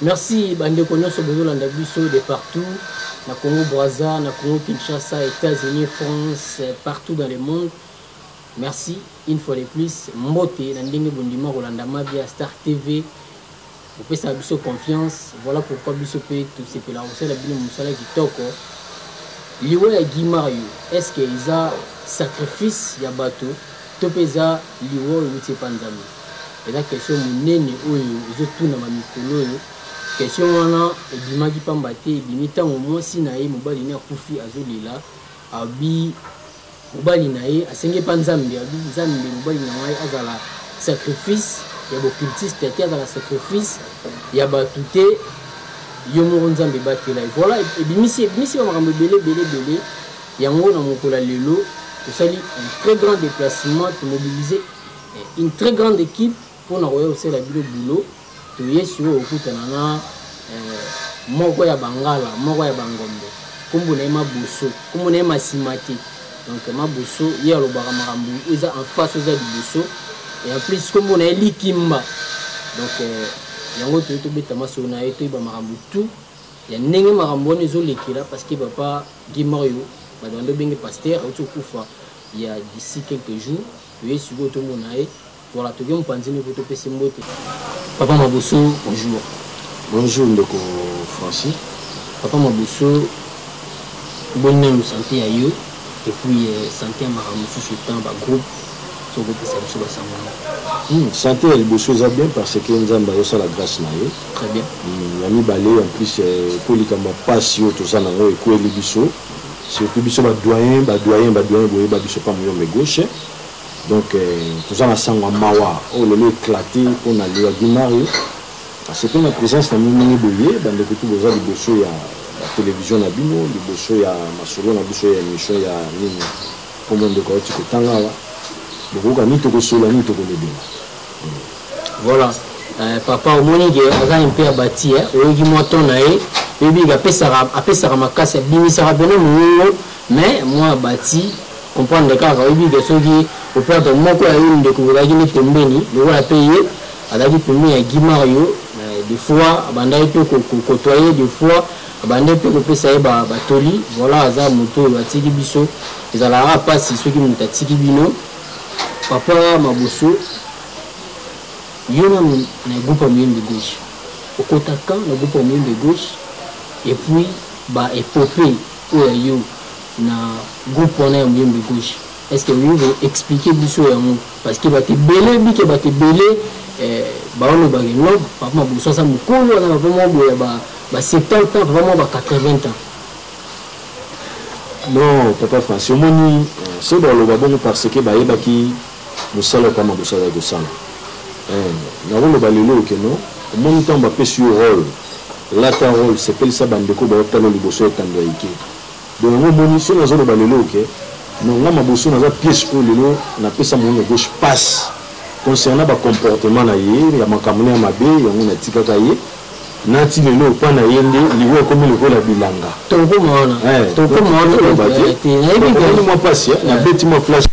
Merci ba ndeko nionso bozo landa biso de partout na Congo Brazza, na Congo Kinshasa, Etats-Unis, France, partout dans le monde. Merci une fois de plus mbote na ndenge bondima kolanda Mavia Star TV. Bopesa biso confiance. Voilà pourquoi biso pe tosepela kosala bino mosala kitoko. Liwa ya Guy Mario, est-ce que eza sacrifice ya bato to pe eza liwa oyo euti epa Nzambe? eza question monene oyo ezotunama mikolo oyo question wana ebimaki mpamba te ebimi ntango mwasi na ye mobali ne akufi azolela abi mobali na ye asenge mpa nzambe abi nzambe mobali na ngai azala sacrifice ya bocultiste te azala sacrifice ya bato te yo moko nzambe batela ye voilà ebimisi ebimisi ba makambo ebele ebele ebele yango na mokolo ya lelo tosali un très grand déplacement tomobilise Une très grande equipe pona koya kosala bino bulo toye sikoyo kokutana na eh, moko ya bangala moko ya bangombe nkombo na ye maboso nkombo na ye masima te donc maboso ye alobaka makambo eza en face eza liboso et en plus nkombo na ye likimba donc eh, yango toye tobeta masolo na ye toyeba makambo tout ya ndenge makambo wana ezolekela parce que papa guy mario bato bando obenge paster auti okufa il y a d'ici quelques jours Toye sikoyo tomona ye. Voilà, toke mopanzi moko topesi mbote. Papa Maboso, bonjour. Bonjour ndeko Francis. Papa Maboso, boni nanu sante ya yo et puis euh, sante ya makambo mosusu etant bagroupe tokopesa biso basango yango hmm, sante ya liboso eza bien parce que nzambe ayosala grâce na ye très bien hmm, ya mibale en plus euh, mpo likambo ya mpasi oyo toza na yango ekweli biso surtout biso ba doyen ba doyen ba doyen boyeba biso pa muyombe gauche donc euh, toza na sango ya mawa oyo oh, lelo éclaté mpo na lelo di mario asepe na présence na bino ndenge boye bandeko tu boza liboso ya batelevizio na bino liboso ya masolo na biso ya émission ya nini nkombo ndeko auti kotanga awa bokoyoka nini tokosolola nini tokolobela Voilà. Euh, papa omoni ke aza un peu abati eh? oyoki mwa ton na ye oyebi ke apesaka apesaka makasi abimisaka mpena mongongo mais mwa abati comprendre kaka oyebi ke soki operdre moko ya yo ndeko ozalaki nde pembeni lokola mpe ye azalaki pembeni ya gimario euh, des fois abandaki mpe kokotoye des fois abandaki mpe kopesa ye batoli voilà aza moto oyo atiki biso ezalaka mpasi soki moto atiki bino Papa maboso yo nanu na groupe ya muyembe gauche okota quand na groupe ya muyembe gauche et puis ba epopee oyo ya yo na groupe wana ya muyembe gauche est ce que olingi ko expliquer biso yango parce que bato ebele bike bato ebele eh, baolobaka non papa maboso aza mokolo wana papa moko boye ya ba, ba 70 ans papa moko ba 80 ans Non papa Francis omoni soki baloba bongo parce que bayebaki musala oyo papa Makosso azali kosala eh nakoloba lelo oyo que non omoni tango bapesi yo role lata role sepelisa bandeko oyo baotala yo liboso ya etando ya ike donc yango omoni soki nazoloba lelo oyo que non nga Mabosso naza piece oyo lelo napesa Munono Gauche pasi concernant ba comportement na ye ya makambo na ye ya mabe yango natikaka ye n'a ti lelo epa na ye nde liwa ekomi lokola bilanga tokokoma wana eh, tokokoma wana oloba te nayebi mwa mpasi eh, nabeti mwa flash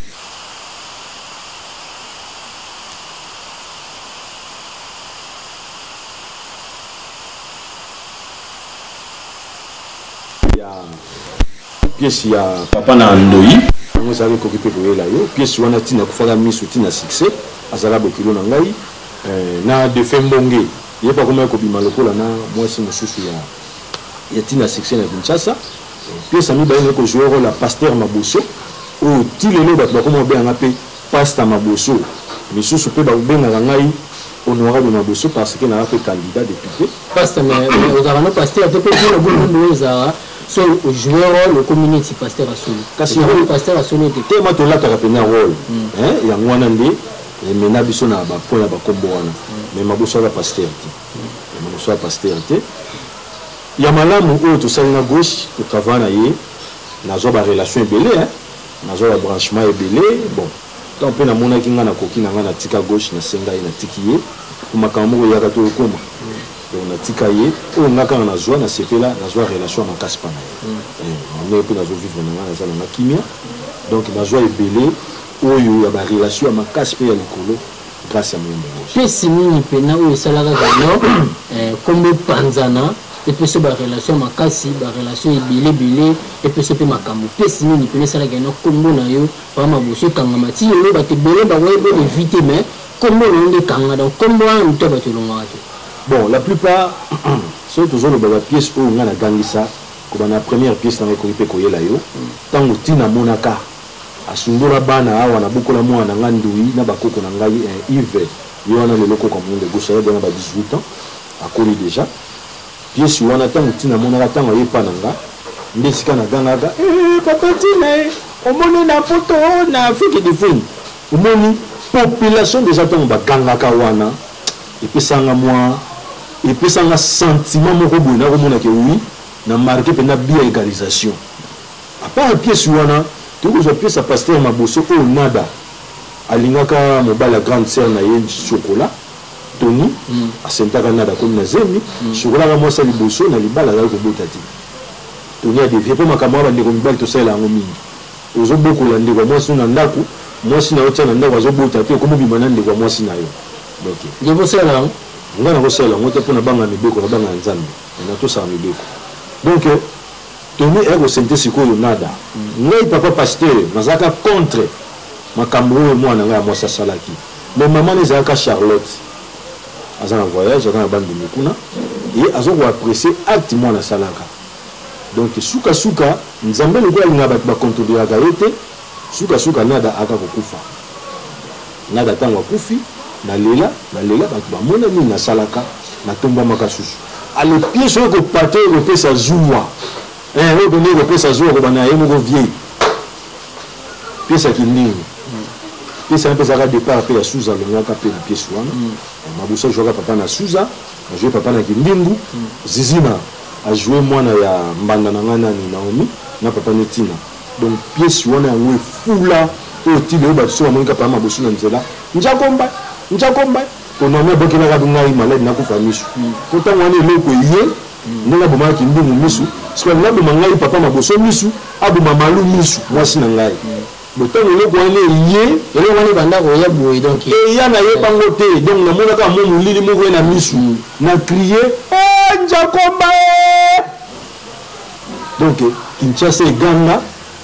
pièce ya papa na ndoyi yango ezalaki ekoki mpe koyela yo pièce wana ntina akufaka miso ntina succès azala bokilo na ngai eh, na defe mbonge Ye pe akomaki kobima lokola na muasi mosusu ya ya tina succès na Kinshasa. Pièce ya mibale naye ko jouer role ya Pasteur Maboso oyo ti lelo batu bakoma kobenga nga pe Pasta Maboso. Misusu pe babengaka ngai Honorable Maboso parce que naza pe candidat depute. Pasta mais ozalaka nanu Pasteur te po bino bino nde ezalaka so o jouer role okomi neti Pasteur ya solo. Kasi yango Pasteur ya solo te. Tellement tolataka penza role hein yango wana nde Emena biso na ba points ya ba kombo wana mais maboso aza pasteur te. Maboso aza pasteur te. Ya malamu oyo tosali na gauche to travailler na ye nazwa ba relations ebele hein. Nazwa ba branchements ebele bon ntango mpe namonaki ngai nakoki na ngai natika gauche nasenga ye natiki ye mpo makambo moko eyaka to okoma donc natika ye oyo ngai kaka nazwa nasepela nazwa relation ya makasi mpa na ye ndenge mpe nazovivre na ngai naza na ngai kimia donc nazwa ebele Oyo ya ba relation ya makasi pe ya likolo grace ya moyi mobos. Pesi nini pena oyo esalaka kino kombo epanzana epeso ba relation ya makasi ba relation ebele bele epeso pe makambu pesi nini pena esalaka kino kombo nayo ba maboso ekangama ti lelo batu ebele bakoki pe ko eviter mais kombo nayo nde ekanga donc kombo wana mutu ya batu elongwaka te. Bon la plupart soki tozo loba ba pièces oyo nga na gangisa kobanda na première pièce nanga ekoki pe koyela yo tangu ti namonaka Asundola bana awa na bokola muana na nga ndoyi na ba koko na ngai eh Yve ye wana lelo koko ya muinda egosi aza dejà na ba 18 ans akoli dejà piesi wana tangu ti na monaka tangu aye epa na nga nde esika na gangaka eh papa tina eh omoni na poto na afrique de funi omoni population dejà tangu ba gangaka wana epesaka nga mua epesaka nga sentiment moko boye nako mona ke oui na marque pena bi ya egalisation A part pièce wana, tokoki kozua pièce ya pasteur Maboso oyo Nada alingaka mobali ya grande sœur na ye Chocola, Tony asentaka Nada akomi na zemi, Chocola aza mwasi ya liboso na libala azali kobota te. Tony a devier po makambo wana ba ndeko mibali tosalela yango mingi. Ozo bokola ndeko ya mwasi no na ndaku, mwasi na yo otia na ndaku azo bota te okomi obima na ndeko ya mwasi na yo. Donc. Yo bo salela yango? Nga nako salela yango te po na banga mibeko, na banga ya Nzambe. Na tosaka mibeko. Donc. Tony aye kosentir sikoyo nada ngai papa pasteur nazalaka contre makambu oyo muana na ngai ya muasi asalaki mais maman naye ezalaka charlotte aza na voyage aza na bandundu kuna et azo ko apprecier acte muana asalaka donc suka suka nzambe lokola alingaka batu ba contrediraka ye te Suka suka nada aka kokufa. Nada tango akufi na lela na lela batu ba mona nini na salaka na tombwamaka susu. Ale pièce oyo ko pate oyo ko pesa zuwa eh oyo penza ko pesa zuwa ko banda na ye moko vie pièce ya kindingu pièce wana pe ezalaka depart pe ya suza alongwaka pe na pièce wana mabusa jouaka papa na suza a joue papa na kindingu zizina a joue mwana ya mbanda na nga nani naomi na papa ne tina Donc pièce wana yango efula oyo ti lelo bato soki bamoni kaka papa mabosu na nzela njakomba njakomba konami abokelaka ngai maladi nakufa miso mpo hmm. ntango wana eloko eye hmm. ndenge abomaka kindungu miso soki alingi aboma ngai papa maboso miso aboma malu miso mwasi na ngai hmm. botango eloko wana eye eloko wana ebanda koya boye donc eya nayebango te donc namonaka mo molili moko ye na misu na trie eh, njakomba eh! Donc Kinshasa eganga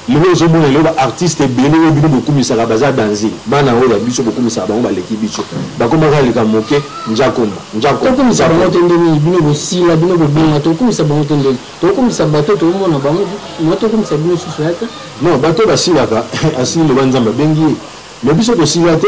lelo ozomona lelo ba artistes ebele oyo bino bokumisaka baza danze bana oyo ya biso bokumisaka bango baleki biso bakomaka aleka moke njakomba njako tokumisa bango te nde nini bino bosila bino bobonga tokumisa bango te ndeni tokumisa bato tokomona bango na tokumisa bino susu yata non bato basilaka asili loba nzambe abengi ye mais biso tosila te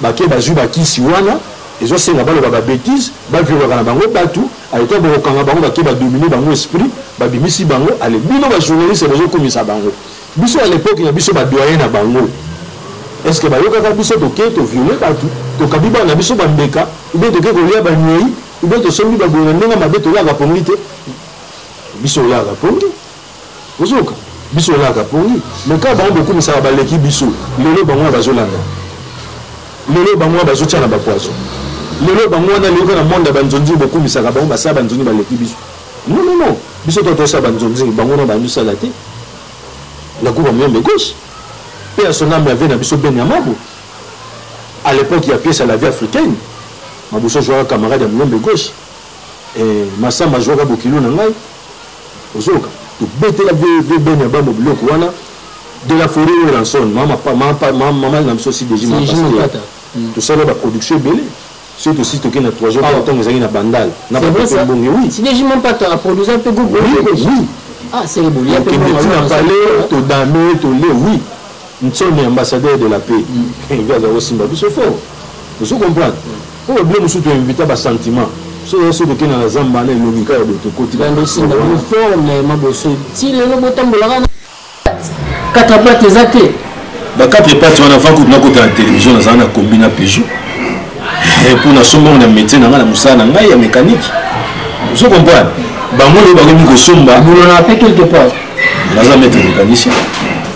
Bake bazui ba kisi wana ezo senga baloba ba betise ba violaka na bango batu a etant boko kanga bango bake ba domine bango esprit ba bimisi bango ale bino ba journaliste bozo kumisa bango biso a l'epoque na biso ba doyen na bango est ce que ba yokaka biso toke to viole batu tokabi bana biso ba mbeka ou bien toke kolia ba nyei ou bien tosombi ba boye na ndenge mabe tolaka pongi te biso olaka pongi ozoka biso olaka pongi mais kaka bango bokumisaka baleki biso lelo bango wana bazolanda lelo bango wana bazotia na bapoison lelo bango wana leyoka na monde ya banzonzingi bokumisaka bango basala banzonzingi baleki biso non non non biso to tosala banzonzingi bango wana bandosala te nakuba moyembe gauche mpe ya sonambe ave na biso ben ya mabo à l'époque ya pièce ya la vie africaine mabuso jouaka camarade ya moyembe gauche eh, masamba jouaka bokilo na ngai Ozoyoka? Tobetela vieux vieux Ben ya bambo biloko wana de la foret Werrason mama mama mama na biso si deji mama pasteur hmm. tosala ba production ebele soki tosi toke na 3 jours ah. ntango ezalaki na bandal na bato mbonge oui si deji mama pata aproduisa mpe groupe oui oui ah c'est le boulot todame tole oui Nsone ambassadeur de la paix nde aza kosimba biso fort ozo comprendre po ba bino mosusu to invita ba sentiment so oza soki okenda na zamba na elongi kaka boye tokoti bandosinda bino fort mais maboso ti lelo botambolaka na kata bate eza te ba quatre pattes wana avant kutu nakota na télévision nazala na kombi na peugeot eh, mpo nasombongo na métier na ngai na mosala na ngai ya mécanique ozo comprendre bango nde bakomi kosomba naza maître mécanicien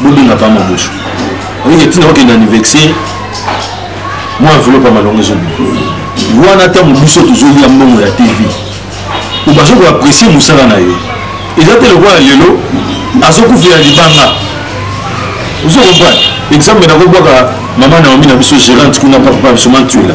bobenga pa mabosho olingi ntina okenda anniversaire mwa enveloppe ya malongo ezobima wana ntango biso tozolia mbongo ya tv po bazo koapresie mosala na yo eza te lokola lelo azokufela libanga ozo comprendre exemple nakobwaka mama naomi na biso gerante kuna papa biso mantuela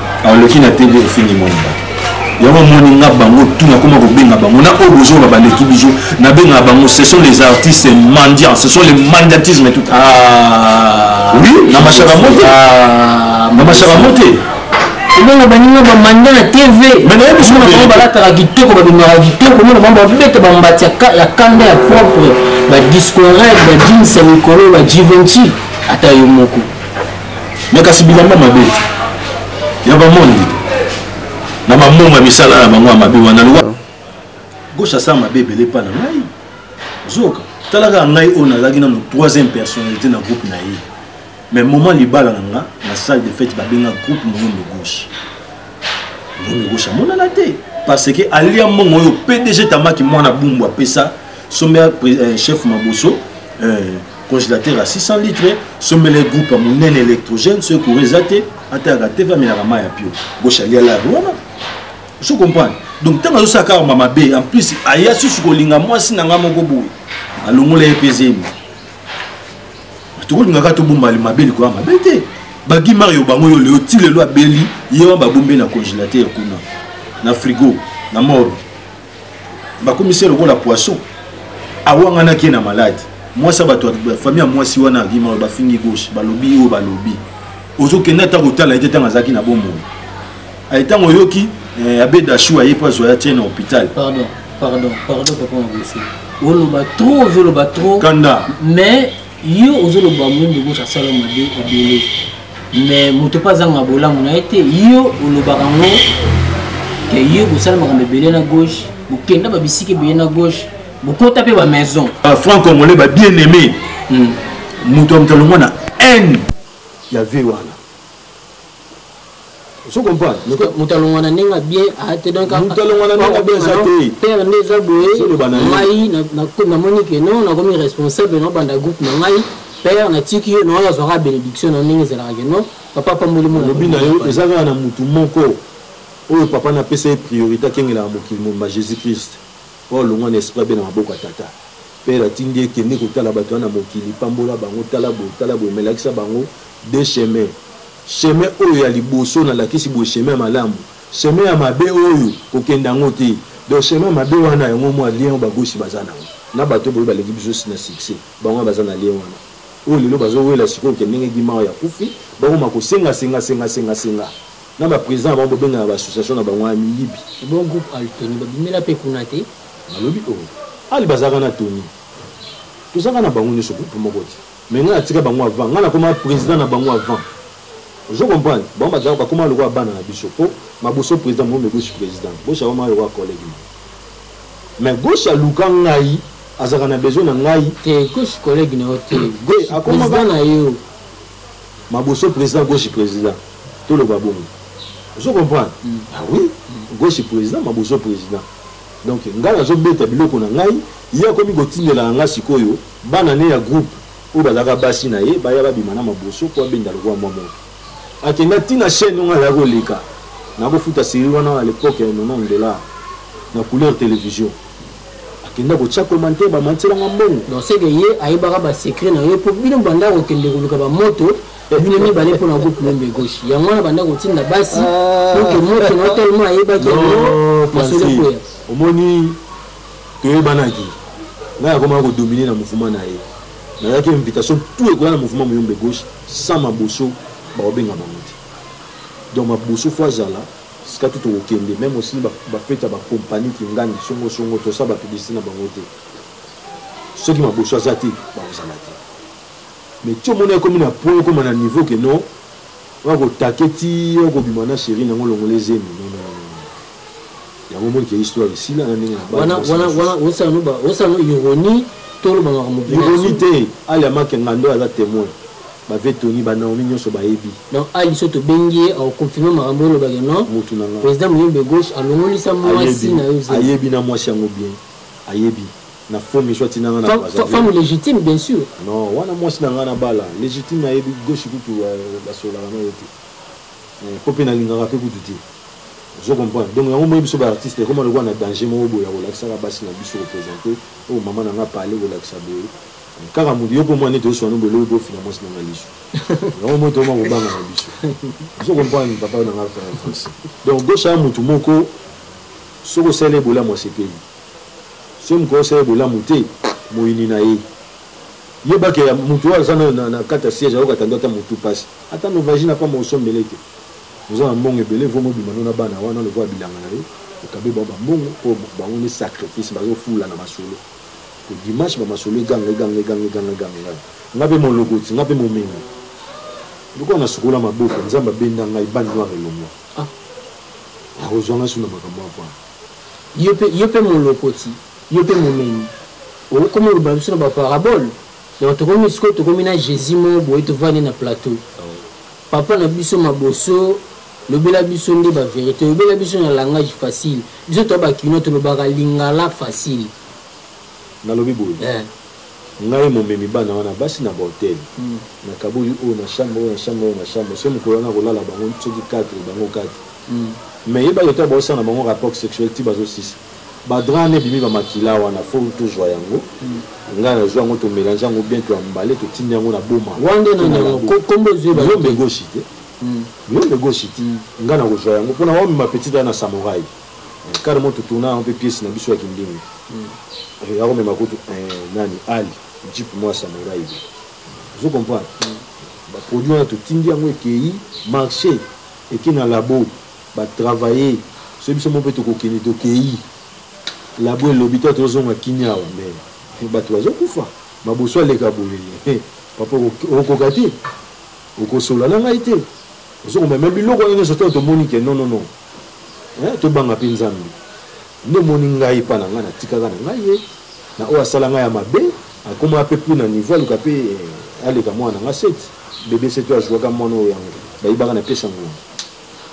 aloki na tv ofingi mwana bato yango omoni nga bango tu nakoma kobenga bango na oyo bozoba baleki biso nabengaka bango ce sont les artistes mendiants ce sont les mendiatisme tout ah. oui na mashaka mote ah, na mashaka mote ebongo baninga bamanda na tv omona bango balataka kitoko babengaka kitoko omona bango babeta bambati ya kanda ya propre badiscorel bajins ya mikolo bajivenci ata yo moko me kasi bilamba mabe ya bamondi na bambongo ya misala na bango ya mabe wana lwa gauche asala mabe ebele mpa na ngai zoka talaka ngai oyo nazalaki nano troisième personnalité na groupe na ye mais moment libala na nga na salle de fete babenga groupe moyondo gauche moyondo gauche amonana te parce que alia mbongo oyo pdg tamaki mwana bumbu apesa sombe ya euh, chef maboso euh, congélateur ya 600 litre sombela ye groupe ya monene électrogène soki courant eza te atayaka te mpe amelaka mai ya pio bosha liala yango wana ozo comprendre donc ntango azosala kaka ma mabe en plus aya susu kolinga mwasi na ngai moko boye alongola ye mpe zemi tokolingaka tobomba mabe likolo ya mabe te bagi mario bango yo leo ti lelo abeli ye wana babombe na congélateur kuna na frigo na moro bakomisi ye lokola poisson awanganaki ye na malade mwasi ya bato famille ya mwasi wana akima bafingi gauche balobi oyo balobi ozokende ata kotala ye te ntango azalaki na bomoi aye ntango oyoki eh, abe dashu aye mpo azwa ya tie na hôpital pardon pardon pardon papa mabosi oloba trop ozoloba trop kanda mais yo ozoloba moyembe gauche asala mabe ebele mais moto mpe azanga bolamu na ye te yo olobaka ngo ke yo bosala makambo ebele na gauche bokenda babisika ebele na gauche bokota mpe bamaison ah, franc congolais ba bien aimé hmm. moto ya moto alongwa na haine ya vie wana ozo comprendre moto alongwa na ndenge bien aa te donc moto alongwa na ndenge bien eza te terre nde eza boye ngai namoni ke non nakomi responsable nabanda groupe na ngai père natiki yo naoyo azwaka bénédiction na ndenge ezalaka ke non papa apamboli molobi na yo eza kaka na motu moko oyo papa napesa ye priorité akengelaka mokili mobimba jésus christ oyo alongwa na esprit abe na maboko ya tata Père atindi ye kende kotala batu wana na mokili pambola bango tala boye tala boye mais lakisa bango deux chemin chemin oyo ya liboso na lakisi boye chemin ya malamu chemin ya mabe oyo kokenda yango te donc chemin mabe wana yango mwa lien oyo bagosi baza na yango na bato boye baleki biso si na succès bango baza na lien wana oyo lelo bazowela sikoyo ke ndenge gimao ya kufi bakoma kosenga senga senga senga senga na baprésident na bango bobengana baassociation na bango ya miyibi bon groupe altoni babimela mpe kuna te Nalobi oh ali bazalaka na tony tozalaka na bango nioso groupe moko te mais ngai natika bango avant ngai nakoma president na bango avant ozo comprendre bango bazalaka bakoma lokola bana na biso po maboso president mome gauche president gauche akoma lokola collègue na mais gauche aluka ngai azalaka na besoin na ngai te gauche collègue na yo te gauche akomaka na yo maboso president gauche president toloba bongo ozo comprendre mm. ah oui mm. gauche president maboso president Donc nga nazo beta biloko na ngai ye akomi kotindelaka nga sikoyo bana ne ya groupe oyo bazalaka basi na ye baya babima na maboso po abenda lokola mwa moto akenda ti na chaine oyo nga nazalaki koleka nakofuta serie wana à l'époque ya 90 dollars na couleur television akenda kotia commentaire bamatiselanga mbongo non seke ye ayebaka basecret na yo po bino banda kokende koluka bamoto bino mibale mpo na groupe lembe gauche yango wana banda kotinda basi ah. donc moto na tellement ayebaki yango masolo ekoya omoni toyebanaki ngai akomaka kodomine na mouvement na ye nazalaki invitation tout ekoya na mouvement moyombe gauche sans maboso bakobenga bango te donc maboso fo azala sika tu tokokende meme osi bafeti ya bakompani kingani songosongo tosala bapiblisite na bango te soki maboso aza te bakozala te Mais ti omona ekomi na point okoma na niveau que non oya ko taquer ti oko bima na cherie na ngo longola zemi non non non yango omoni ke histoire esila na ndenge na bana wana wana wana osala no ba osala no ironie to loba na mo ironie te ali amake ngando aza témoin bave toni banaomi nyonso bayebi donc ali so tobengi ye akoconfirme makambo olobaki non motu na nga président moyembe gauche alongolisa mwasi na yo ayebi na mwasi yango bien ayebi na faux miso atina nga na braza femme légitime bien sûr non wana mwasi na nga na bala légitime ayebi goshi kutu basolaka na yo te eh, po mpe nalingaka mpe kutu te ozo comprendre donc yango moyebi biso baartiste ekoma lokola na danger moko boye ya kolakisaka basi na biso kopresente oyo oh, mama na nga pale kolakisa boye kaka moto yo mpo mwana ete oswana boye lobi bofina mwasi na nga liso yango moto oma kobanga na biso ozo comprendre papa na nga français donc gosha ya motu moko Soki osaleli ye bolamu asepeli. Soki mokolo osaleli ye bolamu te, moyini na ye. Yeba ke mutu oyo aza nayo na kati ya siège ayokaka nde ata mutu pasi. Ata no vagina pamba osombele te. Oza na mbongo ebele vaut mieux obima no na bana wana lokola bilanga na yo okabe bango ba mbongo po bango nde sacrifice bazo fula na masolo. Po dimanche ba masolo eganga eganga eganga eganga eganga eganga. Nga pe molokoti nga pe momengo. Lokola na sukola maboko nzambe abenda ngai ba noir elongua ah. akozwanga suna makambo ya mpona yo pe yo pe molokoti yo pe momemi okokoma oloba biso na ba parabole donc tokomi sikoyo tokomi na jesus moko boye tovandi na plateau papa na biso maboso lobela biso nde ba verite lobela biso na langage facile biso toa bakinois tolobaka lingala facile nalobi boye eh. Ngai momemi bana wana basi na ba hotel na kaboli oyo na chambre oyo na chambre oyo na chambre ce mokolo wana kolala bango soki 4 bango 4 mais yeba ke tango baosala na bango rapport sexuel ti bazo sisa ba drap wana ebimi ba makila wana fo tozua yango ngai na zua yango to melange yango bien to embale to tindi yango na boma wande na nango kombo ezui ba yombe goshi te yombe goshi te ngai na kozua yango pona wamema petite wana na samouraï car mo totuna yango mpe piesi na biso ya kindingi eh, ya komema kutu eh, nani ali jipe mwa samurai ozo comprendre baproduit wana totindi yango ekei marché eke na labo batravaille so biso mo mpe tokokende tokei labo elobi to tozonga kimia awa me eh, bato bazokufa maboso aleka boye eh, papa okoka te okosola na ngai te ozokomema biloko wana nyonso ntango tomoni ke non non non eh, tobanga mpe nzambe nde omoni ngai epa na ngai natikaka na ngai ye na oyo asala ngai ya mabe akoma mpe plus na niveau aluka mpe eh, aleka mwana na ngai sete bebe sete oyo azuaka mwana oyo yango bayibaka na pesa ngongo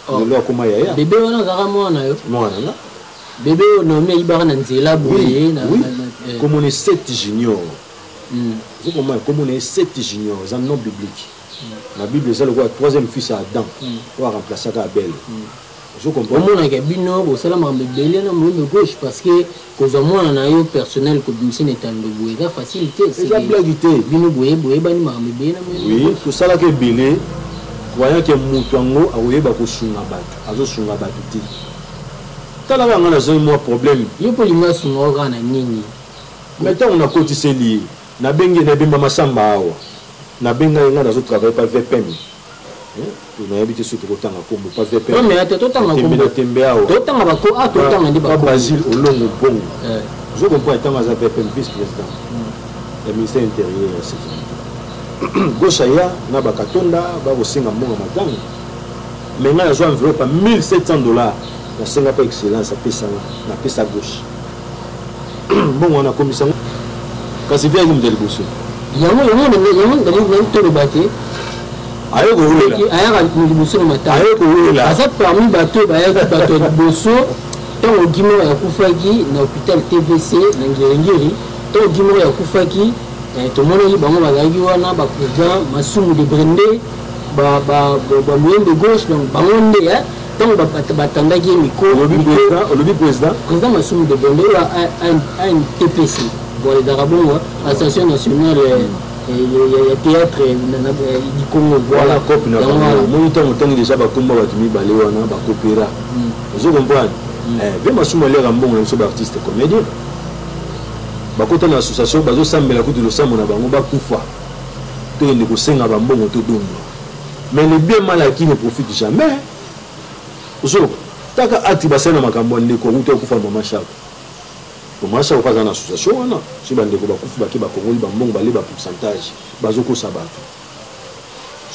oh. lelo akoma yaya bebe wana azalaka mwana yo mwana nga bebe oyo naomi ayibaka na nzela boye eh. komona esete junior hmm. ozokomona komona esete junior eza non biblique na bible eza lokola troisième fils ya adam hmm. oyo aremplaçaka abel hmm. omonaka bino bosala makambo ebele na moyembe gauche parce que kozwa mwana na yo personnel kobimisa na etando boye eza facile te eza blage te bino boye boyebani makambo ebele na moyembe tosalaka ebele croyant ke moto yango akoyeba kosunga bato azosunga bato te talaka nga nazoi mwa problème yo mpo olingi asunga oyo kaka na nini me ntango nakotiseli ye Na bengi ye na ebemba masamba awa na benga ye nga nazo travailler pa vpm eh, na yebi te soki toko tanga kombo pa vpm non mais to tanga kombo na tembe awa to tanga ba ko a ah, to tanga ndi ba ko Basile Olongo Bongo eh. je comprends tanga za vpm vice président hmm. ya ministère intérieur ya sécurité gauche aya na ba katonda ba ko singa mbongo matanga mais nga na zo enveloppe 1700 dollars na singa pa excellence apesa nga na pesa gauche mbongo wana akomisa yango kasi mpe ayaki moto ya liboso yango yango yango toloba te aye kowela ayaka liboso na matanga aye kowela aza parmi bato oyo bayaki bato ya liboso ntango gimor akufaki na hôpital tvc na ngiringiri ntango gimor akufaki eh, tomonaki bango bazalaki wana bapresident masumu de brende bamoyen de gauche donc bango nde eh, ntango batandaki ye mikolobi président président masumu de bonde oyo antps boaledaka bongo association nationale euh, ya théâtre du congo voilà cope na bango moni ntango otangi déjà bakomba bato mibale wana bakopera hmm. ozo comprendre hmm. eh, mpe masumu aliaka mbongo na biso baartiste comédien bakota na association bazosambela kutu losambo na bango bakufa toyende kosenga bambongo todondwa Mais le bien mal acquis ne profite jamais. Zo, taka acte basali na makambo ya ndeko awuti akufa mama Shako. Mama Shako mpe aza na association wana, soki bandeko bakufi bake bakongoli bambongo bale ba pourcentage, bazokosa bato.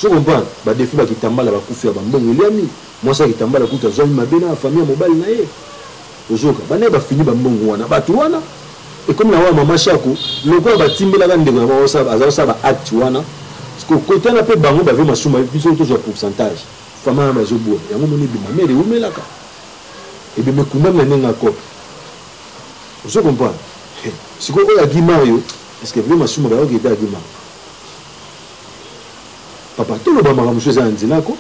Zo comprendre, badefi bakitambala bakufi ya bambongo eliami, mwasi ya kitambala kutu azwami mabe na famille ya mobali na ye. Ozoyoka ba naye ba fini ba mbongo wana batu wana ekomi na wana mama shako lokola ba timbelaka ndeko na bango aza kosala ba acte wana siko kotana pe bango bave masuma biso tozwa pourcentage fama wana bazo bua yango moni ebima mere ewumelaka ebima ekundami na ndenge akop ozo comprendre siko oyo agi mario est-ce que vie masuma bayoki ete agi mario papa toloba makambo mosusu eza na nzela ko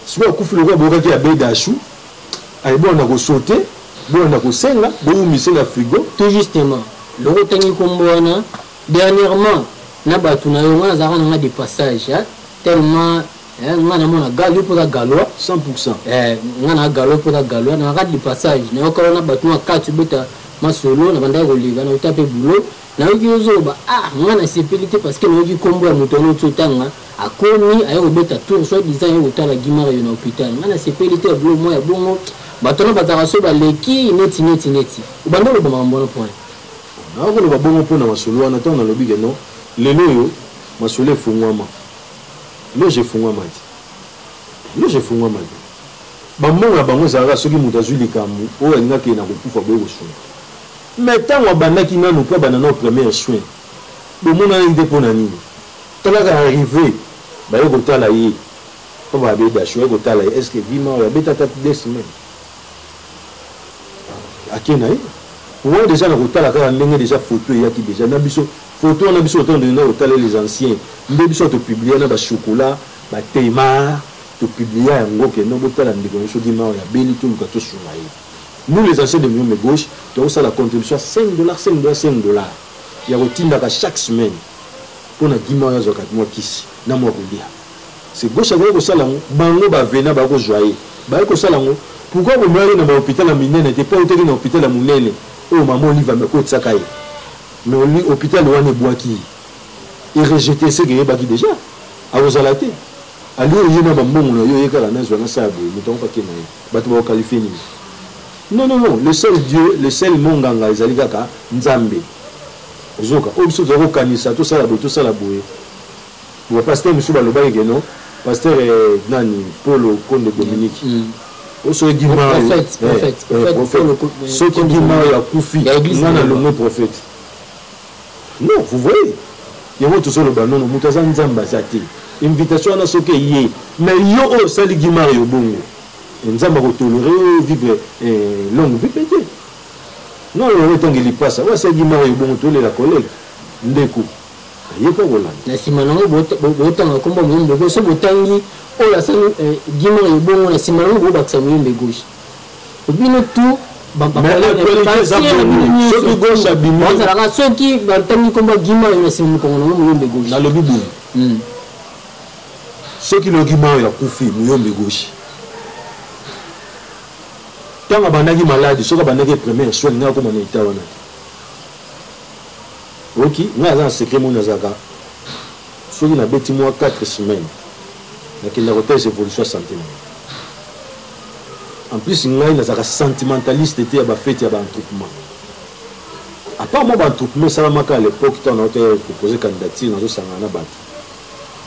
sikoyo akufi lokola boyokaki ya bedashu Allez bolanda ko sauter, bolanda ko senga, bo wumise na frigo. Tout justement, loko otangi kombo wana, dernièrement na batu na yo, nga nazalaka na nga de passage, hein, tellement eh, nga namona gal, yo mpe oza galois 100% eh, nga na galois mpe oza galois, nazalaka de passage, nayoka wana batu na kati obeta masolo, nabandaki koleka, nauta mpe boulot Nayoki yo zoba ah nga na sepeli te parce que nayoki kombo ya moto wana otio tanga akomi aye kobeta tour soit disant aye kotala Gimario na hopital nga na sepeli te ya bilo mwa ya bongo bato wana bazalaka so baleki neti neti neti obanda oloba makambo wana mpo wana nayoki koloba bongo mpo na masolo wana ntango nalobi ke no lelo oyo masolo efungwama loge efungwama te loge efungwama te bambongo ya bango ezalaka soki moto azwi likambo oyo alingaki ye na kokufa boye kosunga Mais tango abandaki nanu pe abanda nao première soin bomonanaki te pona nini tala kaka arrive baye kotala ye papa babe dash baye kotala ye est ce que vie mawa abeta ata deux semaine ake naye wana deja na kotala kaka ndenge deja photo eyaki deja na biso photo wana biso otango deja na kotala les anciens nde biso to publier na ba chocolat ba tema to publier yango kendo botala ndeko na biso vie mawa ya beli toluka tosunga ye Nous les anciens de l'Union de gauche toko sala contribution ya 5 dollars, 5 dollars, 5 dollars ya ko tindaka chaque semaine pona Gima oyo azwaka mua kisi na mua kolia. C'est gauche akoki ko sala yango, bango ba venant ba ko zwa ye ba ye ko sala yango. Pourquoi bo mema ye na ba hopital ya minene te? Po awutaki na hopital ya munene oyo mama Olive ame kotisaka ye mais hopital wana ebuaki ye, e rejeter ce que eyebaki dejà akozala te. Alio ye na ba mbongo na yo ye kaka nazwa na sa ya boye mutu yango pe akenda ye. Bato bako qualifier nini? Non non non, le seul Dieu, le seul monganga ezali kaka Nzambe. Ozoka, oyo biso tozali kokanisa tosala boye tosala boye. Ba pasteur mosusu balobaki ke non, pasteur eh, nani Polo Konde Dominique. Mm. mm. soki gima soki gima oyo akufi nga nalongwe prophète Non vous voyez yango tozo loba nono mutu aza nzambe aza te invitation wana soki eye mais yo oyo osali Guy Mario bongo eh, nzambe ako tolere yo vivre eh, longue vie pe te non yango etangi lipasa oyo asali Guy Mario bongo tolela collègue ndeko aye pe kolanda na nsima nango botanga nkombo moyembe gauche so botangi oyo asali eh, Guy Mario bongo na nsima nango bobakisa moyembe gauche bino tout bazalaka soki batangi nkombo ya gima oyo na nsima mokongo nango moyombe goshi nalobi boye hmm. soki logima oyo akufi moyombe goshi ntango abandaki maladi soki abandaki première soin ngai akoma na eta wana oki ngai aza na secret moni azalaka soki nabeti mwa 4 semaine nakenda kotala evolution ya sante na ngai en plus ngai nazalaka sentimentaliste te ya bafete ya baentroupement apart mwa baentroupement esalamaka à l'époque ntango nauta ya kopose candidature nazosangana na bato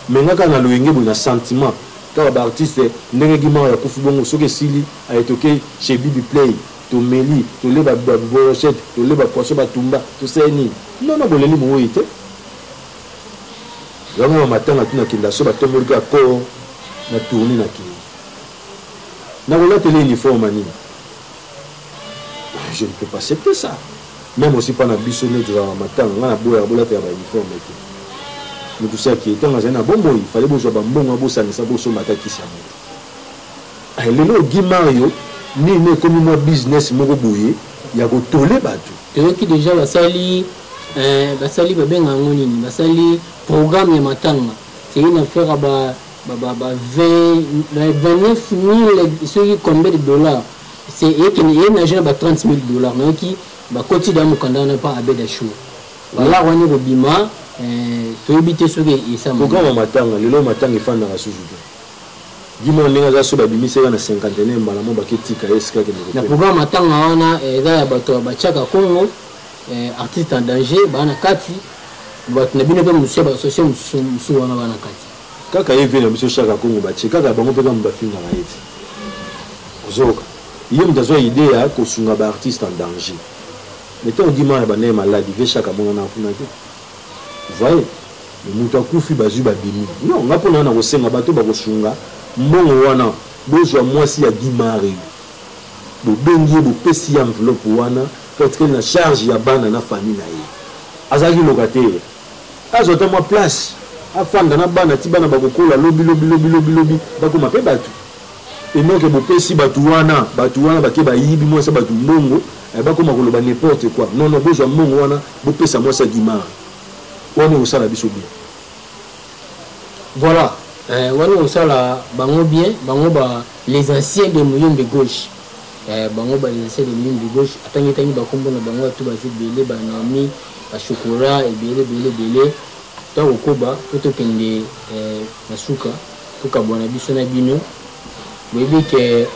me nga kaka na loyenge boye na sentiment kaka baartiste ndenge gimar ya kufi bongo soki esili ayetoke chez bibi play tomeli toleba brochette toleba poisson batumba tosali nini nono boleli moweyi te yango na matanga tuna kenda so batomboli kaka koo na tourne na kenda na kolateli uniforme nini je ne peux pas accepter ça même aussi mpa na biso nde tozalaka na matanga ngai naboyaka bolatela ba uniforme te moto si akei ntango azali na bomoi fale bozwa bambongo bosangisa bosomba ata kisi ya moto eh, lelo ogi mario nini ekomi mwa business moko boye ya kotole bato toyoki deja basali eh, basali babenga yango nini basali programme ya matanga seyina fera ba ba ba ba 20 na 29000 soki combien de dollars c'est et que et na jeune ba 30000 dollars na ki ba koti da mukanda na pa abeda show wala mm. wani ko bima euh, toyebi te soki esama programme matanga lelo matanga efandaka susu te bima ndenge aza so babimisaka na cinquantenaire mbala mo baketika ye esika kende na programme matanga wana eh, eza ya bato batiaka congo eh, artiste en danger baa na kati bato na bino mpe mosusu ya basosie mosusu wana baa na kati Kaka ye vieux na biso shaka kongo ba tie kaka bango pe kamue ba fingaka ye ti ozoyoka ye mutu azua idee ya ko sunga ba artiste en danger mais tango guy marre abandaki malade vieux shaka amonanaka kuna te vous voyez mais mutu akufi bazui ba bimi non nga pona nga nako senga bato bako sunga mbongo wana bozua muasi ya guy marre yo bo bengi ye bo pesi ye enveloppe wana po atikali na charge ya bana na famille na ye azalaki locataire Azwa ata mwa place afanda na bana ti bana bakokola lobi lobi lobi lobi lobi bakoma pe batu enoke bopesi batu wana batu wana bake bayibi mwasi ya batu mbongo eh, bakoma koloba n'importe quoi non non bozwa mbongo wana bopesa mwasi ya gimara wana ekosala biso bien voilà eh, wana ekosala bango bien bango ba les anciens de muyombe gauche eh, bango ba les anciens de muyombe gauche atangi tangi bakombo na bango atu baza ebele banaomi ba chocolat ebele ebele ebele to kokoba po tokende eh, na suka tokabwana biso na bino boyebi ke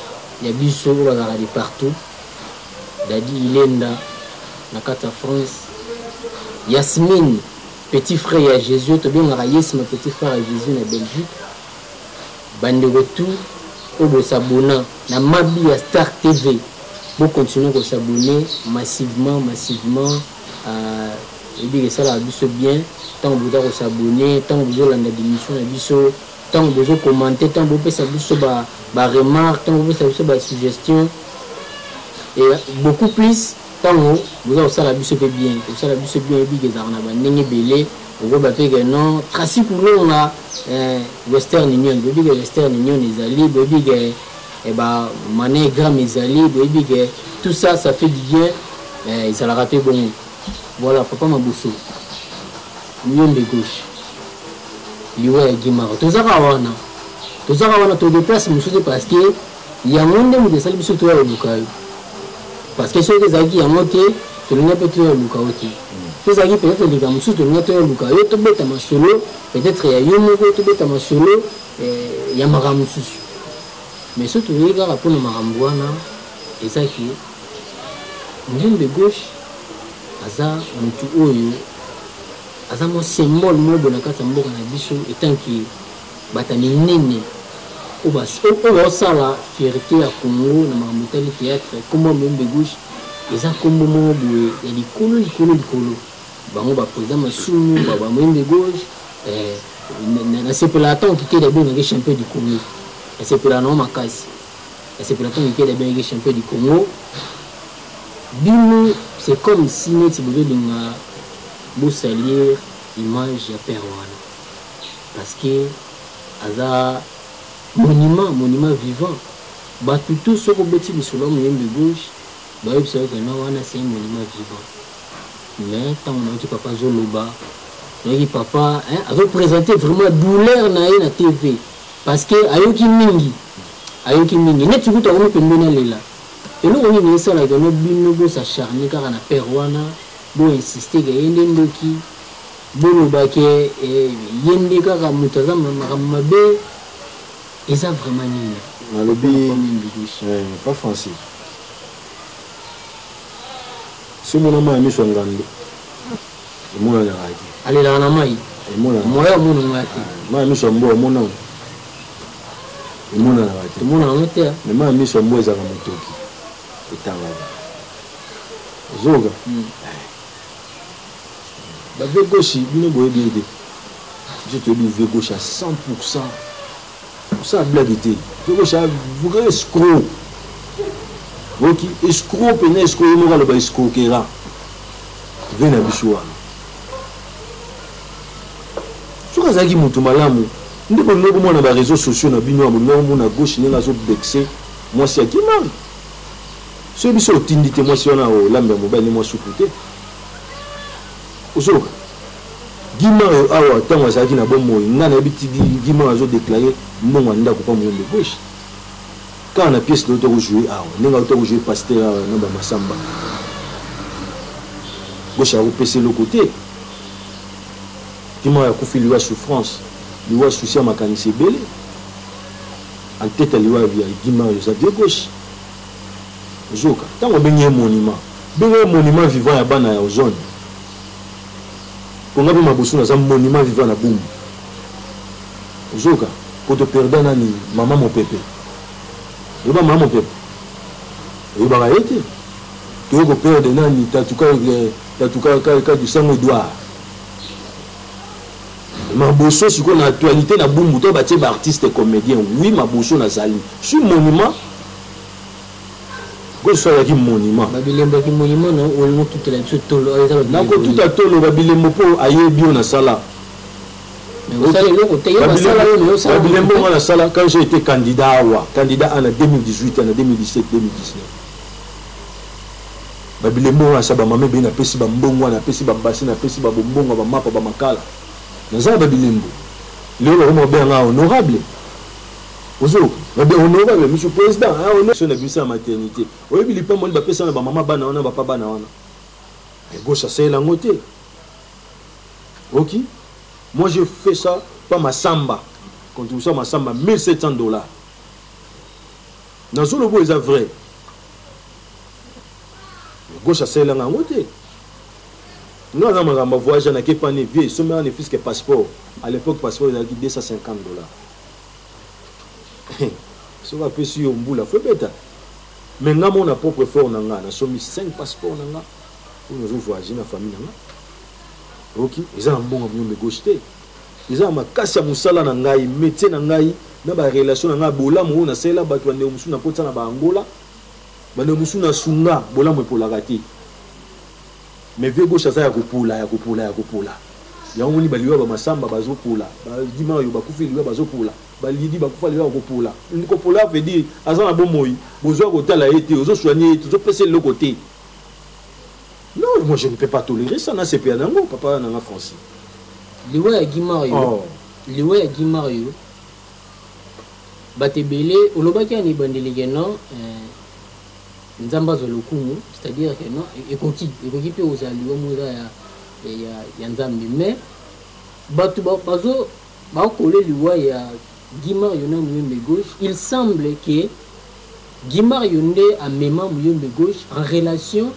ya biso oyo bazalaka de partout dadi ilenda na kati ya france yasmine petit frère ya jésus tobengaka yesma petit frère ya jésus na belgique Bandeko tout oyo bo s'abonna na mabi ya star TV bo continuer ko s'abonner massivement massivement oyebi ke esalaka biso bien tango boza ko s'abonner tango bozo landa b'emission na biso tango bozo commenter tango bopesa biso ba ba remarque tango bopesa biso ba suggestion et beaucoup plus Tango boza kosala biso pe bien kosala biso bien oyebi ke ezalaka na ba ndenge ebele okoba pe ke non Tracy Kulonga eh, Western Union boyebi ke Western Union ezali boyebi ke eh, ba Money Gram ezali boyebi ke tout ça ça fait du bien eh, ezalaka pe bongo voilà papa Mabuso yombe gauche liwa ya Gimara tozaka wana tozaka wana to deplace mosusu parce que Yango nde moto esali biso toya koluka yo parce que soki ezalaki yango te tolinga mpe toya koluka yo te to ezalaki peut-être likambo mosusu tolinga toya koluka yo tobeta masolo peut-être ya yo moko tobeta masolo eh, ya makambo mosusu mais soki toyei kaka mpo na makambo wana eza ke nzembe gauche aza motu oyo aza mwa symbole mobo na kati ya mboka na biso etanke Bata minene oyo bazosala fierte ya Congo na makambo etali theatre, kombo ya Muyombe Gauche eza kombo moko boye ya likolo likolo likolo, bango ba president masumu ba Muyombe Gauche eh. nasepela ata okikeli abengaki champion du congo nasepela nango makasi nasepela ata okikeli abengaki champion du congo bino c'est comme si neti bozolinga bosalir image ya père wana parce que aza monument monument vivant batu tout soki obeti lisolo ya moyembi gauche bayebisa yo kena wana c'est un monument vivant mais ntango nayoki papa azoloba nayoki papa hein, azopresente vraiment douleur na ye na tv parce que ayoki mingi ayoki mingi neti kutu akomi pembeni alela eloko nini esalaka no bino bosacharne kaka na père wana boinsiste ke ye nde ndoki Boloba ke ye nde kaka mutu aza makambo mabe eza vraiment nini? Nalobi pa Francis si omona mayi ya miso ya ngando emonanaka te. Alelaka na mayi emonanaka. Moya omonanaka te. Mayi ya miso ya mbwa omonango emonanaka te. Emonanaka te. Mais mayi ya miso ya mbwa ezalaka motoki etangaka. Ozoka? ba vieux gauche bino boyebi ye te biso toyebi vieux gauche ya 100 pourcent kosala blague te vieux gauche ya vrai escro oyoki escro mpenza escro ye moko aloba escrokera vie na biso wana soki azalaki motu malamu nde bolingi komona ba réseaux sociaux na bino ya bolingi komona gauche ndenge azobexe mwasi ya kimari soki biso otindi te mwasi wana olambi ya mobali ne mwa supu te ozoka gima oyo awa ntango azalaki na bomoi ngai nayebi ti gima oyo azodeklare mbongo ya ndako mpa moyombe gauche kaka na pièce loto kojoue awa ndenge auta kojoue paster awa na bamasamba gauche akopesa eloko te gima oyo akufi liwa souffrance liwa souci ya makanisi ebele anteta liwa ya gima oyo eza vie gauche ozoka ntango obengi ye monument benga ye monument vivant ya bana ya ozone konga mpe mabusu naza monument vivant na bumbu ozoka poto perda nani mama mopepe oyeba mama mopepe oyebaka ye te toye koperde nani tatuka eh, tatuka kadisango edouard Maboso sikoyo na actualite na bumbu to batie ba artiste comedien oui maboso na zali suis monument ko so ya ki monument ba bilembo ki monument na o lingo tout la biso tolo ayo zalo na ko tout a tolo ba bilembo po aye bio na sala babilembo nga nasala quand j'ai été candidat awa candidat ana 2018 ana 2017 2019 Ba bilembo wana sa ba mama ebele na pesi ba mbongwa na pesi ba basi na pesi ba bombongwa ba mapa ba makala na za na ba bilembo lelo ba koma kobenga nga honorable ozo ba be honorable monsieur president hein honore so na bimisa na maternite oyebi lipambwa nini ba pesa na ba mama bana wana ba pa bana wana mais gauche asalela yango te oki moi je fais ça pa masamba contribution masamba 1700 dollars nazoloba eza vrai mais gauche asalelanga yango te nga na makambo voyage na ke pani vie esombela ne fiske passeport à l'époque passeport ezalaki 250 dollars soki apesi yo mbula fo ebeta me nga moko na propre effort na nga nasombi 5 passeport na nga oyo nazo voyage na famille na nga oki eza na mbongo miyombe gauche te eza na makasi ya mosala na ngai métier na ngai na barelation na ngai ya bolamu oyo nasalela bato ya ndeko mosusu nakotisa na baangola Bandeko mosusu na sunga bolamu epolaka te mais vieux gauche aza ya kopola ya kopola ya kopola yango omoni baliwa ba masamba bazopola ba dimayo bakufi liwa bazopola ba lidi bakufa liwa ya kopola kopola veut dire aza na bomoi bozo ya kotala ye te ozo soigner ye te ozo pesa eloko te non moi je ne peux pas tolérer ça na sepela na yango papa na nga Francis liwa ya Guy Mario oh. liwa ya Guy Mario Bato ebele olobaki ya na ebandeli que non eh, Nzambe azwa lokumu, c'est-à-dire que non e-, ekoki ekoki mpe kozala liwa moza ya, ya, ya Nzambe mais bato bazo bakole liwa ya Guimar Yona Muyembe Gauche, il semble que Guimar Yonde amema Muyembe Gauche en relation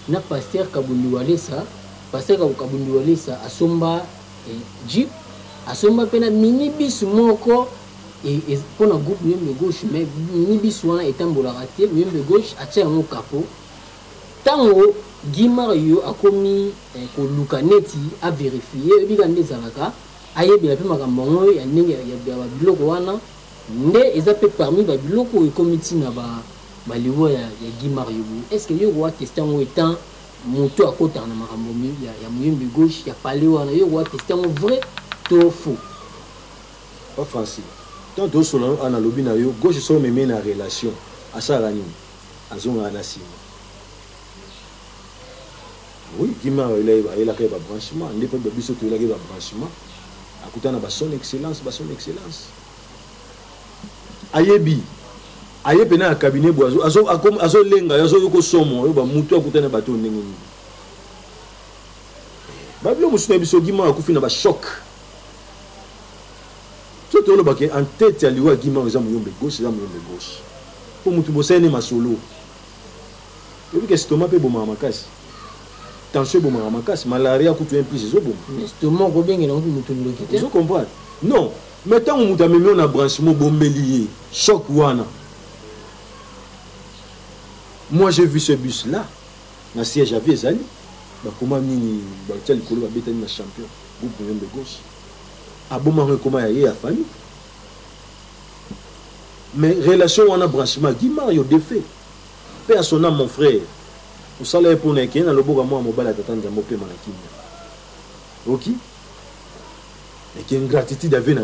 na pasteur Kabundi Walesa, pasteur Kabundi Walesa asomba e, jeep asomba mpe na minibus moko e, e, mpo na groupe muyembe gauche mais minibus wana etambolaka te muyembe gauche atya yango kapo ntango guy mario akomi eh, koluka neti averifie oyebi kaka nde ezalaka ayebela mpe makambo yango ya ndenge ya babiloko wana nde eza mpe parmi babiloko oyo ekomi ntina baliwa ya, ya guy mario boye est ce que yo koateste yango etant Mutu akotaka na makambo ya, ya muyembi gauche ya palais wana yo okoka teste yango vrai to faux? Pa Francis, tango tozosolola nanu awa nalobi na yo gauche soki omemi ye na relation asalaka nini? Azongaka na sima. Oui, Guime awa ayelaka ye ba branchement nde pe biso toyelaka ye ba branchement akutana na ba son excellence, ba son excellence. ayebi aye pena ya cabinet bo azolenga yo azoyoka osomo oyo bamutu akutani na bato oyo ndenge nini babilo mosusu na biso gima akufi na bachoc so tolobaka en tete ya liwa gima eza moyombe gauche eza moyombe gauche mpo motu bosali ne masolo oyebika estoma mpe bomaka makasi tension ebomaka makasi malaria kutu un plus ezoboma estoma okobengela motu ndoki te ozo comprendre non Mais tango mutu amemi yo na branchement obombeli ye choc wana moi j'ai vu ce bus là na siège avi ezali bakoma nini batia likolo babetani na champion groupe moyen de gauche abomaka ekoma ya ye ya famille mais relation wana branchement guy mario defait mpe asona mon frère osala ye mpona ekeye na loboko ya mwana mobali ya tata nzambe opema na kimia oki eki ingratitude ave na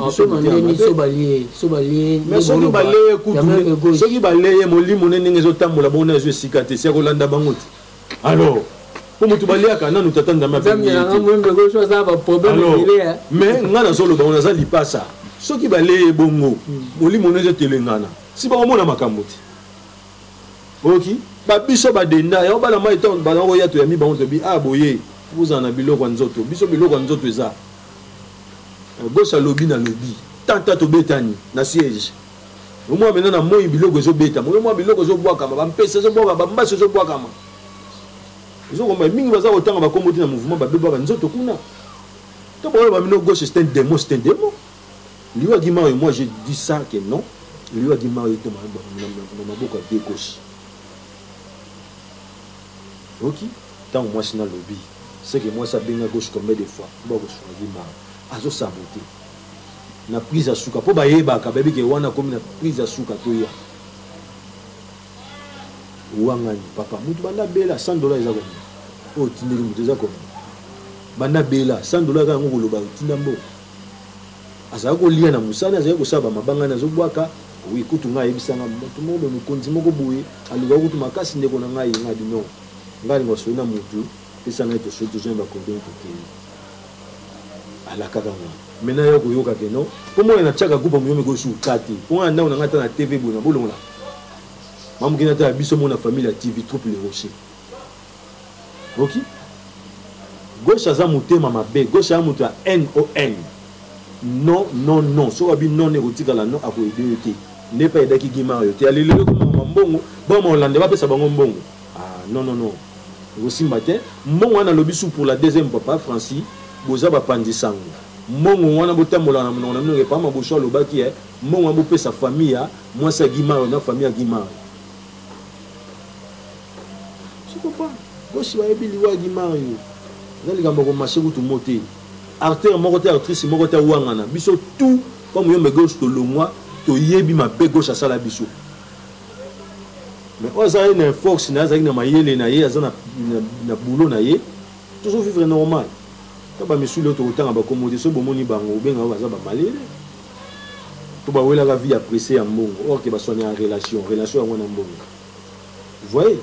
bisosoki baleye molimo ne ndenge ezotambola bongo na ezo esika te si akolanda bango te alors mpo moto baliaka nanu tata ndambe mais ngai nazoloba ngo naza lipasa soki baleye bongo molimo ne ezotelengana si bakomona makambo te oki ba biso ba denda ya bana mai to bana ko yato ya mi bango to bi ah boye bozala na biloko ya nzoto biso biloko ya nzoto eza euh, gauche alobi na lobi tanta tobetani na siège omwa mena na moi biloko ezobetama oyo mwa biloko ezobwakama bampesa ezobwakama bambasi ezobwakama ezokomba mingi baza kotanga bakombo te na mouvement babebaka nzoto kuna to baoyo bamino gauche c'est un démon c'est un démon Liwa Guy Mario, moi j'ai dit ça que non. Liwa Guy Mario était na maboko ya pied gauche. Oki, tant moi c'est na lobby. C'est que moi ça benga gauche combien de fois? Bon, je suis Guy Mario. Azo saboter. Na prise ya suka po bayebaka bayebi ke wana akomi na prise ya suka toya wangani papa mutu banda bela 100 dollars eza komia oyo otindeli mutu eza komia banda bela 100 dollars eza yango koloba otinda mboka azali kolia na mosali azali kosala bamabanga na azobwaka oui kutu ngai ayebisa ngai moto moko boye mokonzi moko boye alukaka kutu makasi ndeko na ngai ngai bi non ngai alinga osoli na motu pesa ngai tosoli tozwa bakondoni tokei alakaka ngai maintenant yo koyoka ke non mpo mwana natiaka groupe ya moyomi ekoyosi uka te mpo ngai na ndako na ngai ata na tv boye na bolongola mamokina ata ya biso mona famille ya tv troupe le rocher ok gauche aza motema mabe gauche aza moto ya n o n non non non soki abi non ne ekotikala non akoyede yo te nde mpe ayedaki gimar yo te alelelo ekomama mbongo bama olande bapesa bango mbongo ah, non non non ekosimba te mbongo wana alobi su pour la deuxième papa francis boza bapanzi sango mbongo wana botambola na monoko na bino epa maboso alobaki e mbongo wana bopesa famille ya mwasi ya gimar na famille ya gimar sikopa bosi bayebi liwa ya dimario eza likambo ya komashe kutu mo te artere moko te artrice moko te awangana biso tout comme yombe gauche tolongwa toyebi mabe gauche asala biso mais oyo aza ye na force na ye azalaki na mayele na ye aza na boulot na ye tozo vivre normal ta bamisu leo tokotanga bakombo te soki bomoni bango obenga oyo baza bamalele to bawelaka vie ya presse ya mbongo or ke baswani ya relation relation yango na mbongo vous voyez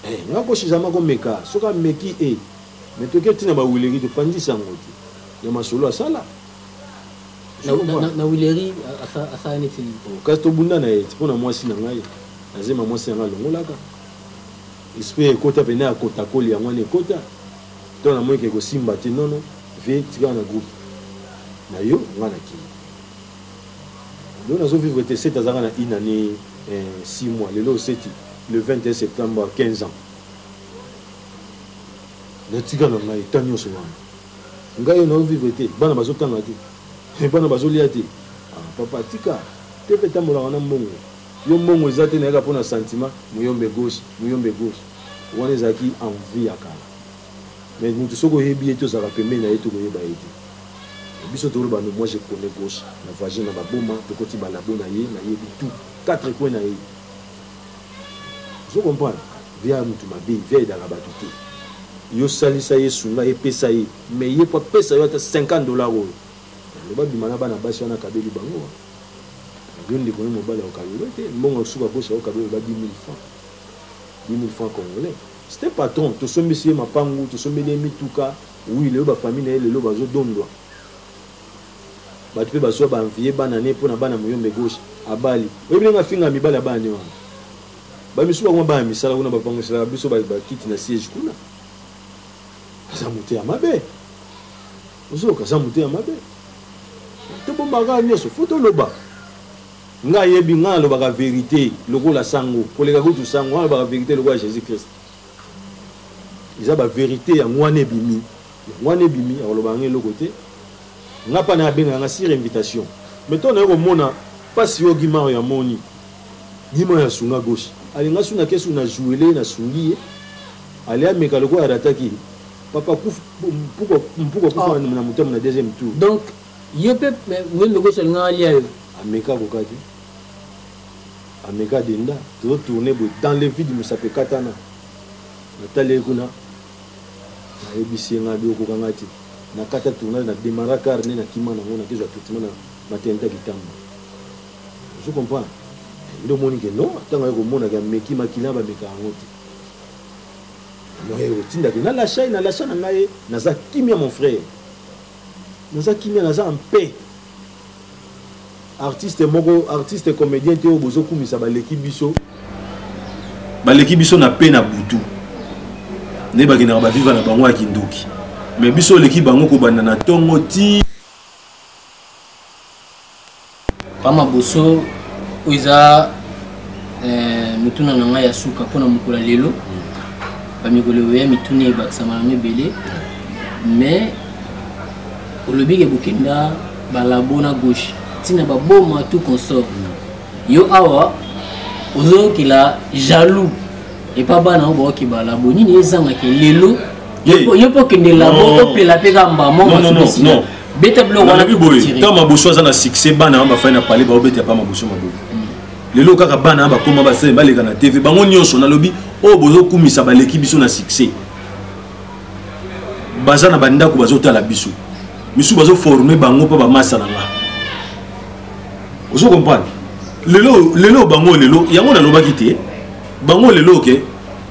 eh, nga ko suzama ko meka soki ameki e eh. mais toke ntina ba wileri topanzisa yango te ya masolo asala na wileri asala neti oh, kasi tobunda na ye mpo na mwasi na ngai nazema mwasi na ngai alongolaka esprit ekota mpena ya kotakoli yango wana ekota to namonike ekosimba te nono vie tikala na groupe na yo ngai na kini lelo nazo vivre te sete azalaka na une année eh, six mois lelo oseti le 21 septembre 15 ans natika na ngai ta nyonso wana ngai nao vivre te bana bazotanga te eh, bana bazolia te ah, papa tika te mpe etambolaka na mbongo yo mbongo eza te nayaka mpo na sentiment muyombe gauche muyombe gauche wana ezalaki envie ya kala Mais mutu soki oyebi ye te ozalaka pembeni na ye te okoyeba ye te. Biso tolo bano moi je connais gauche na vagin na baboma tokoti ba labo na ye na yebi tout quatre coin na ye. Ozo comprendre? Viya mutu mabe, viya edaka batu te. Yo salisa ye, sunga ye, pesa ye. Mais ye po apesa yo ata 50 dollars oyo. Loba bima na bana basi wana kabeli bango wa. Yo ndeko na mobali okabelo te, mbongo suka gauche okabelo ba 10000 francs. 10000 francs congolais. C'est un patron, tosombisi ye mapangu, tosombeli ye mituka. Oui, lelo ba famille na ye lelo bazo dondwa. Batu pe bazwa ba envie bana ne pona bana muyombe gauche abali. Oyebi ndenge afinga mibali ya bana ne wana. Ba misusu bakoma bana misala kuna ba panguselaka biso ba kiti na siège kuna. Aza mote ya mabe. Ozoka aza mote ya mabe. Tobombaka nyoso, faut toloba. Nga ayebi nga nalobaka verite lokola sango koleka kutu sango nga nalobaka verite lokola Jesus Christ eza ba verite yango wana ebimi yango wana ebimi akolobaka nga eloko te nga mpa na abengaka nga sur invitation mais to naye komona mpasi yo gimaro ya moni gima ya sunga gauche alinga suna kesu na jouele na sungi ye ale ameka lokola arataki papa kufu mpuko mpuko kufa oh. na motema na deuxième tour donc Yo pe muembe okosi olingaka alia yo. Ameka akoka te. Ameka denda. Tozo tourner boye dans le vide musapi ekatana. Natali ye kuna. Nayebisi ye ngai okoka ngai te. Nakata tournage na demara car nde nakima nango nakezwa traitement na maternité kitamba. Je comprends. Nde omoni ke non ntango aye komona ke ameki makila bameka yango te. Moye otinda ke na lachai na lacha na ngai naza kimia mon frère. naza kimia naza en paix artiste moko artiste comédien te oyo bozokumisa baleki biso baleki biso na pe na butu nde bakendaka baviva na bango ya kindoki mais biso oleki bango kobanda na ntongo ti Pama Boso, oyo eza eh, motuna na ngai ya suka mpo na mokolo ya lelo. Bamikolo oya mituni ebakisama na mibele, mais olobi ke bokenda balabo na gauche ntina baboma tout consort. Yo awa ozoyokela jaloux epa bana oyo baoki balabo nini ezangaka lelo yo mpo okende labo opela mpe ka mbamo beta biloko wana nalobi boye ntango maboso aza na succès bana wana bafai na pale baobeta epa maboso maboko lelo kaka bana wana bakoma basele baleka na tv bango nyonso nalobi oyo bozokumisa baleki biso na succès baza na bandako bazotala biso misusu bazoforme bango mpo bamasa na nga ozo comprendre lelo lelo bango lelo yango nalobaki te bango lelo ke okay,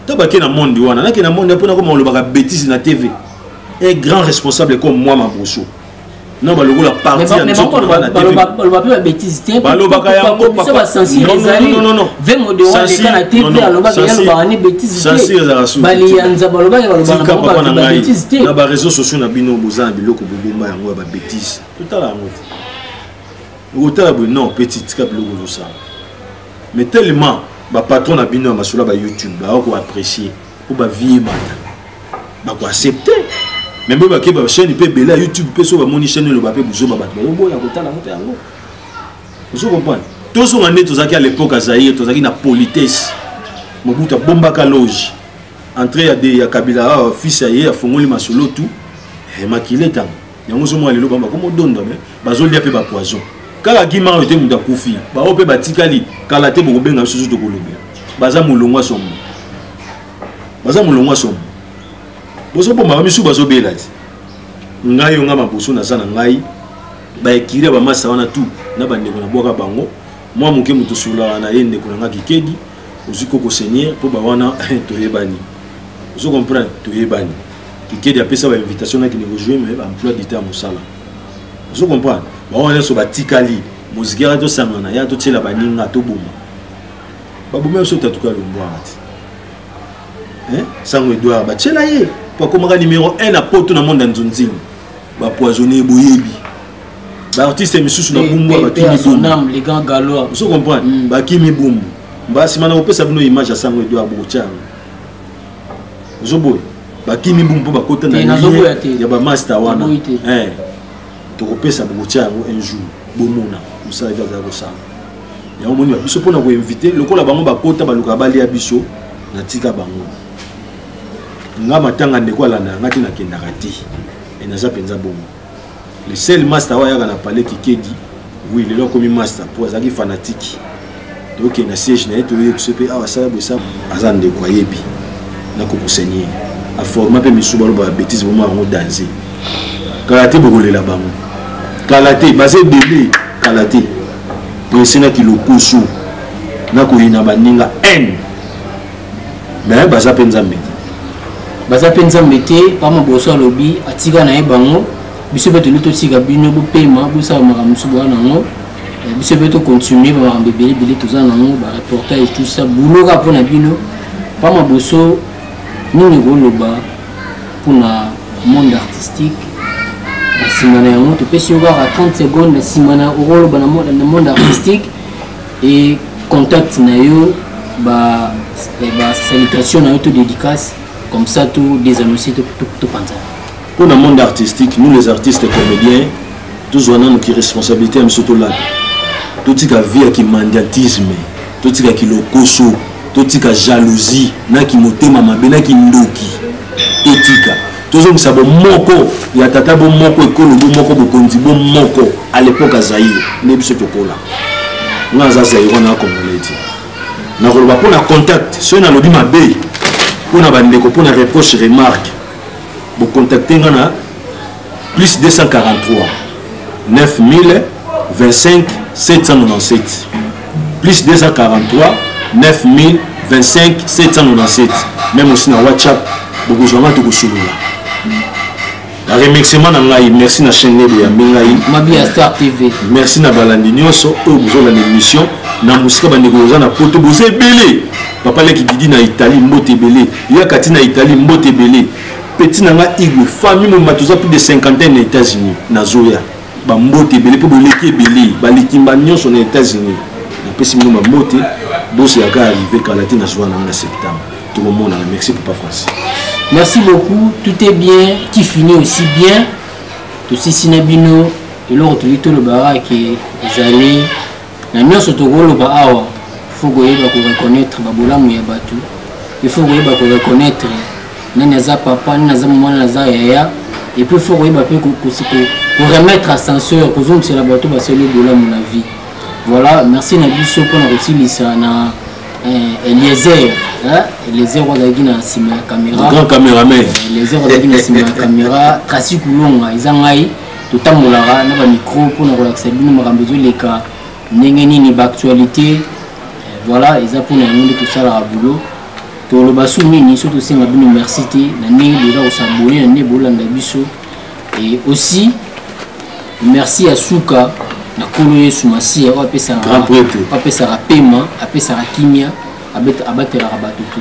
to bake na monde wana nake na monde mpo nakoma olobaka betise na tv un grand responsable comme moi maboso non balokola parti ya nzotobalobaka betise te balobaka yangobasansiezalasutika papa na ngai na bareseau sociaux na bino boza na biloko bobomba yango ya babetise totala yango te okotala boye non petit tika biloko ozosala mais tellement bapatron na bino ya masolo ya bayoutube baokoapprécier mpo ba vie ebanda bako accepte me mpe bake ba chaîne mpe ebele ya youtube mpe so bamoni chaîne eloba mpe buzoba bato bayoboya kotala yango mpe yango ozo comprendre tozonga nde tozalaki à l'époque ya zaire tozalaki na politesse mobutu abombaka loge entrée ya, de, ya kabila ah, fils ya ye afongoli masolo tout eh, makile ntango yango ozomona lelo bango bakomodonda me bazolia mpe bapoison kaka gima oyo te moto akufi baoyo mpe batikali kala te bokobenga bisusu tokolobela baza molongwa somo baza molongwa somo bozoboma bamisusu bazobela te ngai yo ngai maboso naza na ngai baekiri ya bamasa wana tu na bandeko na bwaka bango mwa moke moto osololaka na ye ndeko na ngai kikedi ozwi koko seigneur mpo bawana toyebani ozo comprendre toyebani kikedi apesa bainvitation nakende kojoue me baemploi du temps ya mosala ozo comprendre bawana nyonso batikali moziki yaka tosangana ya totyela baninga toboma baboma biso tatuka lombwanga te sango edward batyela ye mpo akomaka numero 1 na poto na monde ya nzonzini ba poisonner boyebi ba artiste misusu na bumbu ba kimi son âme les grands galois vous comprenez mm. ba kimi bumbu ba sima na kopesa bino image ya sango edo abocha zoboy ba kimi bumbu po bakota na ya ba master wana eh tokopesa bokotia yango un jour bomona mosala ete azali kosala yango moni biso mpona koinvite lokola bango bakota balukaka balia biso natika bango nga matanga ndeko alandaka nga te nakendaka te e naza mpenza bongo le seul master oyo ayaka na palais kikedi wi lelo akomi master mpo azalaki fanatike tokende na siège na ye toyei biso mpe awa asala boye sa aza ndeko ayebi nakokosenye ye aforma mpe misu baloba ya bétise bomo yango danze kala te bokolela bango kala te baza ebele kala te prese na kilokoso nakoyina baninga haine mais baza mpe nzambe te baza mpe nzambe te pama boso alobi atika na ye bango biso mpe toli totika bino bopema bosala makambo mosusu boya na yango eh, biso mpe tocontinue bamakambo ebele ebele toza na yango bareportage tout ça boulot kaka mpo na bino pama boso nini koloba mpona monde artistique na nsima na yango topesi yo kaka 30 seconde na nsima na okoloba na monde artistique et contact na yo ba eh, ba salutation na yo to dédicace comme ça tout des annoncés tout tout tout panza pour le monde artistique nous les artistes comédiens tous on a nos responsabilités à surtout là tout tika vie qui mandiatisme tout tika qui lokoso tout tika jalousie na qui motema mabe na qui ndoki etika tozongisa bomoko ya tata bomoko ekolo bomoko bokonzi bomoko à l'époque ya zaire nde biso tokola nga aza zaire wana akongole ti nakoloba mpo na contact soki nalobi mabe mpo na bandeko mpo na reproche remarque bocontacte nga na plus 243 9000 25 797 plus 243 9000 25 797 meme aussi na whatsapp bokozwa ngai tokosolola na remerciement na ngai merci na chaîne lelo yambi ngai mabia star tv merci na balandi nyonso oyo bozolanda émission na mosika bandeko boza na poto boza ebele papa leki didi na italie mbote ebele yaka ti na italie mbote ebele petit na nga igwe famille mobima toza plus de cinquantaine na états-unis nazoya bambote ebele mpe boleki ebele balikimba nyonso na états-unis napesi bino bambote bosi yaka arrive kala te nazwa nanga na septembre tokomonana merci papa français merci beaucoup tout est bien qui finit aussi bien tosisi na bino eloko toyei tolobaka ke ezali na nyonso tokoloba awa faut koyeba koreconnaitre babolamu ya bato il faut koyeba koreconnaitre nani aza papa nani aza mama nani aza yaya epuis il faut koyeba mpe koremettre ascenseur kozongisela bato basali bolamu na vie voilà merci na biso mpona kosilisa na eh, eliezer eliezer oyo azalaki na nsima ya caméra eh, eliezer oyo azalaki na nsima ya caméra traci kulonga eza ngai totambolaka na bamicro mpo na kolakisa bino makambo ezoleka ndenge nini baactualité eh, voilà eza mpona yango nde tosalaka boulot toloba su nini so tosenga bino merci te na ndenge boza kosabone na ndenge bolanda biso et aussi merci ya suka na nkolo yesu masiya oyo apesaka pema apesaka kimia abatelaka bato te